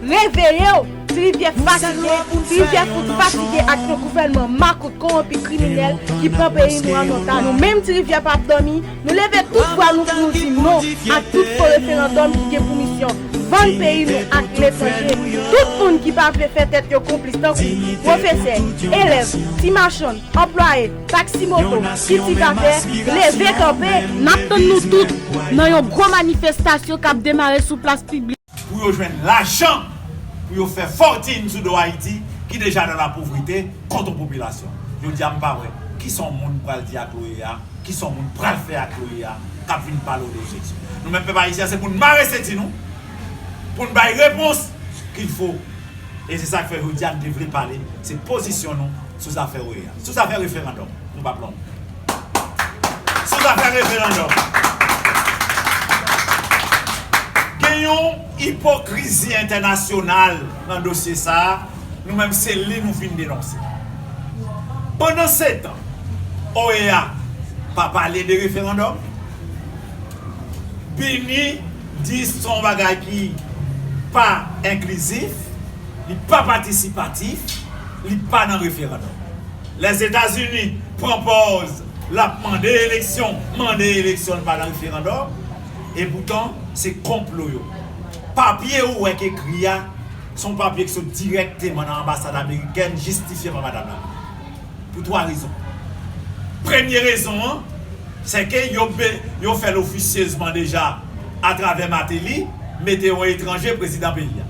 Reveye w! Ti Rivyè fatige, Ti Rivyè fout fatige ak yon gouvènman makout kowonpi kriminèl ki pran peyi nou an otaj. Nou menm Ti Rivyè pap dòmi, nou leve tout vwa nou pou nou di non ak tout fo referandòm ki gen pou misyon vann peyi nou ak letranje. Tout moun ki pa vle fè tèt yo konplis tankou, pwofesè, elèv, ti machann, anplwaye, taksi moto, kiltivatè, leve kanpe! Nap tann nou tout nan yon gwo manifestasyon kap demare sou plas piblik. Pou yo jwenn lajan pou yo fè fòtin sou do Ayiti ki deja nan lapouvrite kont on popilasyon. Jodi a m pa wè ki sa on moun pral di ak l'OEA, ki sa on moun pral fè ak l'OEA k'ap vin pale ou de Jezi. Nou menm pèp Ayisyen se pou n mare senti nou, pou n bay repons k'il fo. E se sa k fè jodi a n te vle pale se pozisyon nou sou zafè OEA. Sou zafè referandòm nou pap long. Sou zafè referandòm. Gen yon ipokrizi entènasyonal nan dosye sa a, nou menm se li nou vin denonse. Pandansetan, OEA pa pale de referandòm. BINUH di se yon bagay ki pa enklizif, li pa patisipatif, li pa nan referandòm. Lèzetazini pran pòz lap mande eleksyon, mande eleksyon pa nan referandòm e poutan se konplo yo. Papye ou wè k ekri a son papye k sot dirèkteman nan anbasad amerikèn jistifye pa madam la pou 3 rezon. Premye rezon an se ke yo fèl ofisyezman deja atravè Mateli mete yon etranje prezidan peyi a.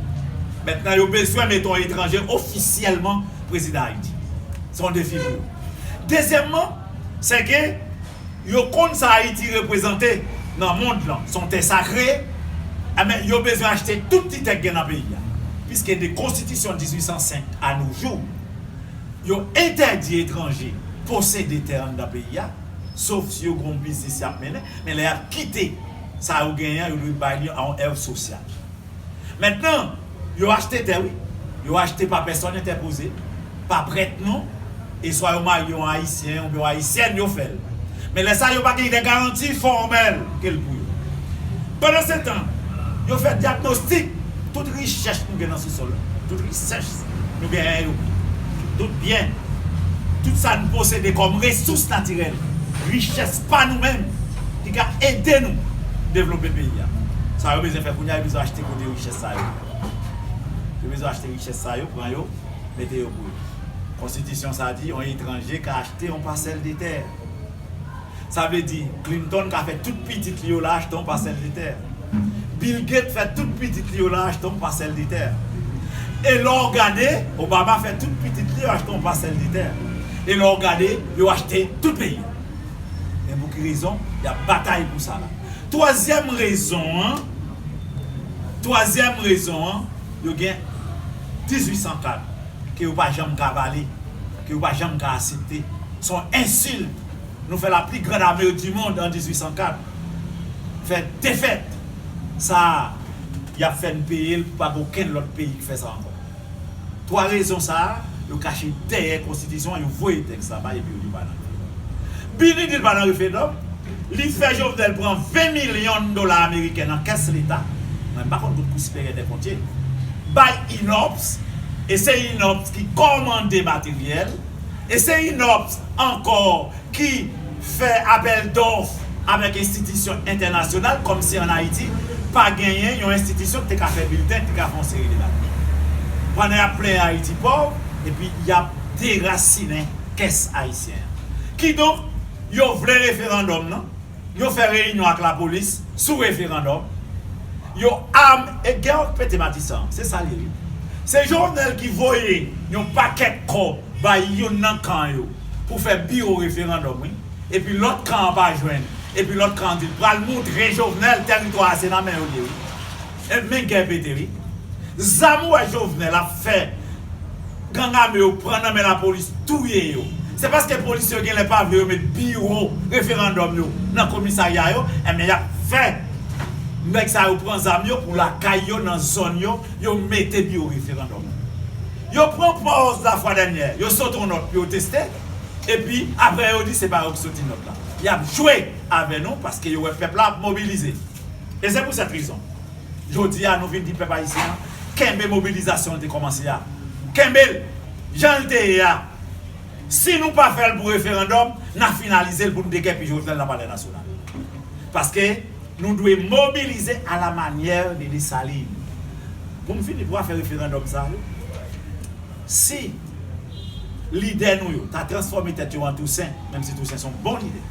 Mentnan yo bezwen mete yon etranje ofisyèlman prezidan Ayiti. Se yon defi pou yo. Dezyèmman, se ke yo konn sa Ayiti reprezante nan mond lan. Se yon tè sakre, enben yo bezwen achte tout ti tè ki gen nan peyi a. Piske de konstitisyon 1805 a no jou, yo entèdi etranje posede tè anndan peyi a, sof si yo gen yon biznis y ap mennen, men lè y ap kite sa yo genyen an, yo dwe bay li a yon èv sosyal. Mentnan, yo achte tè wi. Yo achte pa pèsòn entèpoze, pa prèt non, e swa yo marye yon Ayisyen oubyen yon Ayisyèn yo fè l. Men lè sa yo pa gen de garanti fòmèl ke l pou yo. Pandansetan, yo fè dyagnostik tout richès nou gen nan sousòl la, tout richès nou genyen yo, tout byen, tout sa n posede kòm resous natirèl, richès pa nou menm ki ka ede nou devlope peyi a. Sa yo bezwen fè kounye a, yo bezwen achte kote richès sa yo ye. Yo bezwen achte richès sa yo, pran yo, mete yo pou yo. Konstitisyon sa di yon etranje ka achte yon pasèl de tè. Sa vle di Clinton ka fè tout pitit li yo la achte yon pasèl de tè. Bill Gates fè tout pitit li yo la achte yon pasèl de tè. E lè w gade, Obama fè tout pitit li yo achte yon pasèl de tè. E lè w gade, yo achte tout peyi. Men pou ki rezon y ap batay pou sa la. Twazyèm rezon an, twazyèm rezon an, yo gen 1804 ke yo pa janm ka vale, ke yo pa janm ka asepte. Se yon ensilt nou fè la pli grand ame di mond an 1804. Fè defèt sa a, y ap fè n peye l pou pa gen okenn lòt peyi ki fè sa ankò. 3 rezon sa a, yo kache dèyè konstitisyon an, yo voye tèks la bay epi yo di yo pa nan grèv. Bini di l pa nan referndòm, li fè Jovenel pran 20 milyon dola ameriken nan kès leta, mwen m pa konn kot kou siperyè dèkont ye, bay Innops e se Innops ki kòmande materyèl e se Innops ankò ki Fè apèl dòf avèk enstitisyon entènasyonal kòm si an Ayiti pa genyen yon enstitisyon ki te ka fè bilten, ki te ka fè yon seri de bagay. Pandan y ap plenyen Ayiti pòv epi y ap derasinen kès ayisyen an. Kidonk, yo vle referandòm nan, yo fè reyinyon ak lapolis sou referandòm, yo am e gè ant pete matisan an. Se sa l ye wi. Se Jovenel ki voye yon pakèt kòb bay youn nan kan yo. pou fè pi yo referandòm wi epi lòt kan an pa jwenn epi lòt kan an di l pral moutre Jovenel tèritwa a se nan men yo l ye wi e men gè pete wi zam ou wè Jovenel ap fè gang ame yo pran nan men lapolis touye yo se paske polisye yo genlè pa vle yo met biwo referandòm yo nan komisarya yo enben y ap fè nèg sa yo pran zam yo pou lakay yo nan zòn yo yo mete biwo referandòm. Yo pran pòz lafwa dènyè, yo sot on nòt pou yo teste, epi aprè yo di se pa yo ki soti nòt la. Y ap jwe avè nou paske yo wè pèp la ap mobilize. E se pou sèt rezon, jodi a nou vin di pèp ayisyen an kenbe mobilizasyon l te kòmanse a, kenbe l jan l te ye a. Si nou pa fè l pou referandòm, n a finalize l pou n degèpi Jovenel nan palè nasyonal. Paske. Nou dwe mobilize a la manyè de Dessalines. Pou m fini pou afè referandòm sa yo, si lidè nou yo ta transfòme tèt yo an Tousen, menm si Tousen se yon bon lidè,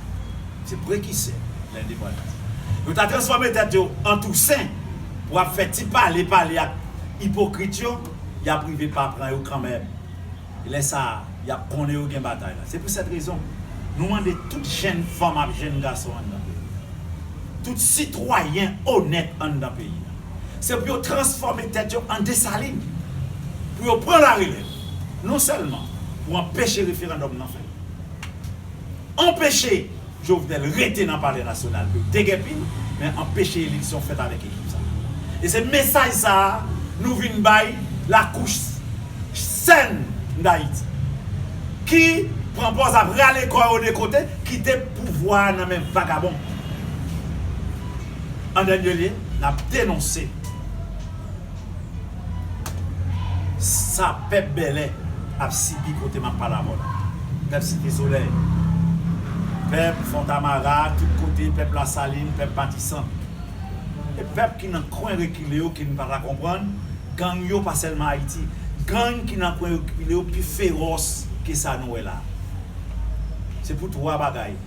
se prekisè lendepandans, yo ta transfòme tèt yo an Tousen pou ap fè ti pale pale ak ipokrit yo, y ap rive pa pran yo kanmèm. lè sa a, y ap konnen yo gen batay la. Se pou sèt rezon, nou mande tout jenn fanm ak jenn gason anndan peyi a, tout sitwayen onèt anndan peyi a, se pou yo transfòme tèt yo an Desalin, pou yo pran larelèv, non sèlman pou anpeche referandòm nan fèt, anpeche. Jovenel rete nan palè nasyonal pou l degèpi, men anpeche eleksyon fèt avèk ekip sa. E se mesaj sa a nou vin bay lakouch sèn Dayiti, ki pran pòz ap rale kò yo de kote, kite pouvwa a nan men vagabon. An dènye lye, n ap denonse. Sa pèp bèlè ap sibi kote map pale avèw la. Pèp site solèy. Pèp fontamara tout kote pèp lasalin pèp matisan. E pèp ki nan kwen rekile yo kin pata konprann gang yo pa sèlman ayiti. Gang ki nan kwen rekile yo pi feròs ke sa nou wè la. Se pou 3 bagay.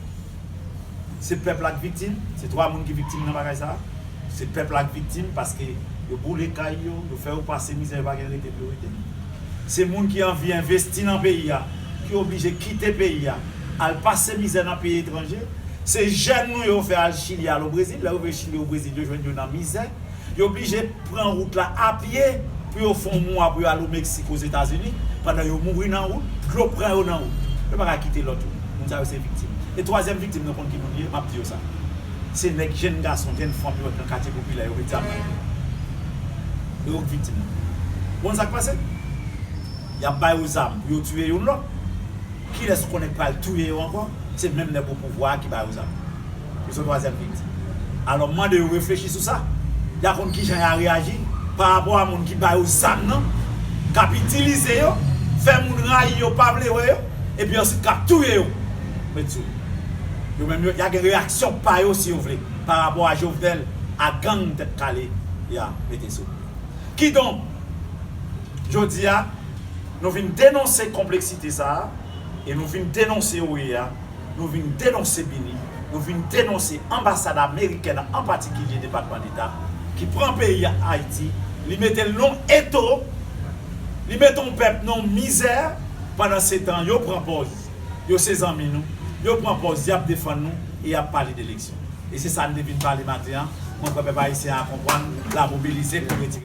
Se pèp la k viktim, se 3 moun ki viktim nan bagay sa. Se pèp la k viktim paske yo boule kay yo, yo fè yo pase mizè yo pa gen rete pou yo rete. Se moun ki anvi envesti nan peyi a ki oblije kite peyi a al pase mizè nan peyi etranje. Se jèn nou yo fè al Chili al o Brezil, lè yo rive Chili o Brezil yo jwenn yo nan mizè. Yo blije pran wout la apye pou yo fon mwa pou yo al o Meksik, Ozetazini, pandan yo mouri nan wout, dlo pran yo nan wout. Yo paka kite lòt yo. Moun sa yo se viktim. E twazyèm viktim nan konn ki moun li ye? M ap di yo sa. Se nèg jenn gason, jenn fanm yo nan katye popilè yo met zam nan men yo. Yo k viktim nan. Ou konn sa k pase? Y ap ba yo zam pou yo tiye youn lòt. Kilès ou konnen k pral touye yo ankò? Se menm nèg opouvwa a ki ba yo zam. Yo son twazyèm viktim. Alò m mande yo reflechi sou sa. Ya konn kijan ya reyaji pa rapò a moun ki ba yo zam nan, k ap itilize yo, fè moun rayi yo, pa vle wè yo, epi ansuit k ap touye yo. Met sou li. Yo menm yo, ya gen reyaksyon pa yo, si yo vle, pa rapò a Jovenel ak gang Tèt Kale ya mete sou li. Kidonk, jodi a, nou vin denonse konpleksite sa a e nou vin denonse OEA. Nou vin denonse BINUH, nou vin denonse anbasad amerikèn an patikilye Depatman Deta ki pran peyi Ayiti, li mete l non eto, li mete yon pèp non mizè, pandan se tan yo pran pòz yo se zanmi nou, yo pran pòz y ap defann nou e y ap pale deleksyon. E se sa n te vin pale maten an, mwen kwè pèp ayisyen a konprann, la mobilize pou retire.